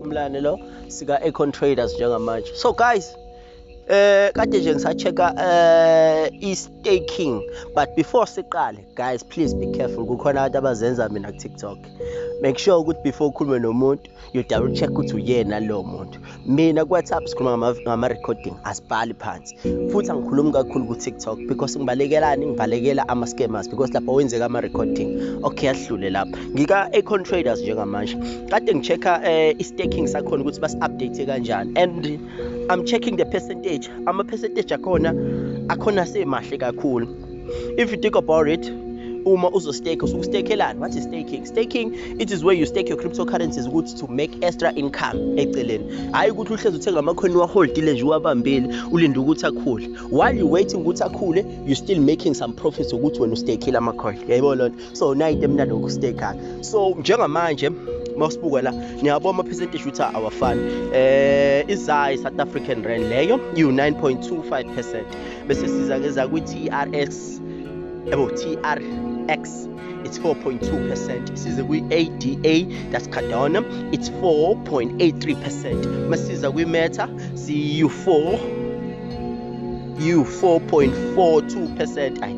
umlane lo sika Econ Traders njengamanje so guys eh kade nje ngisachecka eh i-staking but before siqale guys please be careful kukhona abantu abazenza mina ku-tiktok make sure ukuthi before ukhulume nomuntu you double check ukuthi uyena lowo muntu mina ku-whatsapp sikhuluma ngama-recording asibhali phansi futhi angikhulumi kakhulu ku-tiktok because ngibalekelani ngibalekela ama-scammers because lapho wenzeka ama-recording okay ahlule lapho ngika-acon traders njengamanje kade ngi-check-a um eh, i-staking sakhona ukuthi basi-update kanjani and i'm checking the percentage ama-percentage akhona akhona semahle kakhulu if you think about it uma uzostake usuke ustakelani what is staking staking it is where you stake your cryptocurrencies ukuthi to make extra income eceleni hhayi ukuthi uhlezi uthenga amakhoni waholdile nje uwabambile ulinde ukuthi akhule while you waiting ukuthi akhule you still making some profits ukuthi wena ustakile amakhoni yayibona loo nto so nayite emnandi ngokustay khaya so njengamanje mawusibuka la niyabona ama-percentage ukuthi awafani eh izayi south african rand leyo iwu-9.25 percent bese siza ngeza kwi-trx yabo trx it's 4.2 percent size kwi-ada that's cardona it's 4.83 percent masiza kwi-meta siyu-4 you 4.42 percent ayi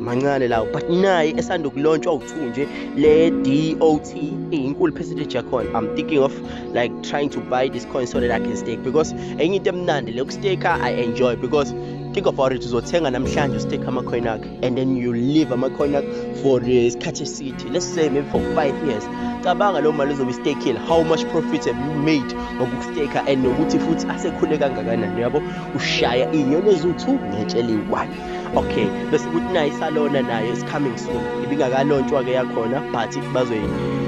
mancane lawo but naye esanda kulontsha u2 nje le DOT inkulu percentage yakhona i'm thinking of like trying to buy this coin so that i can stake because enye into emnandi le ukustake i enjoy because think about it uzothenga namhlanje ustake ama coin akhe and then you leave amakhona for eh, isikhathi eside let's say maybe for five years cabanga loo mali ozobe istekile how much profit have you made ngokusteka and nokuthi futhi asekhule kangakanani yabo ushaya iy'nyoni eziwu-two ngetshe eliyi-one okay bese kuthi naye isalona nayo is coming soon ibingakalontshwa-ke yakhona but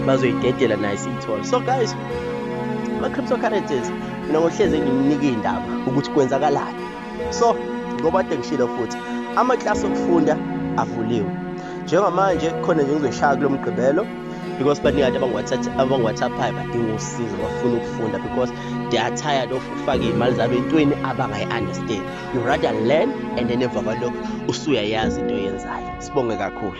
bazoyidedela naye siyithole so guys ama-cryptocurrencies mina ngohlezi engininika iy'ndaba ukuthi kwenzakalani so ngoba kade ngishilo futhi amaklasi okufunda avuliwe njengamanje khona nje ngizoshaya kulo mgqibelo because baningi abantu abangiwhatsapphayo badinga usizo bafuna ukufunda because they are tired of ukufaka iy'mali zabo entweni abangayi-understand you rather learn and then emva kwalokho usuyayazi into oyenzayo sibonge kakhulu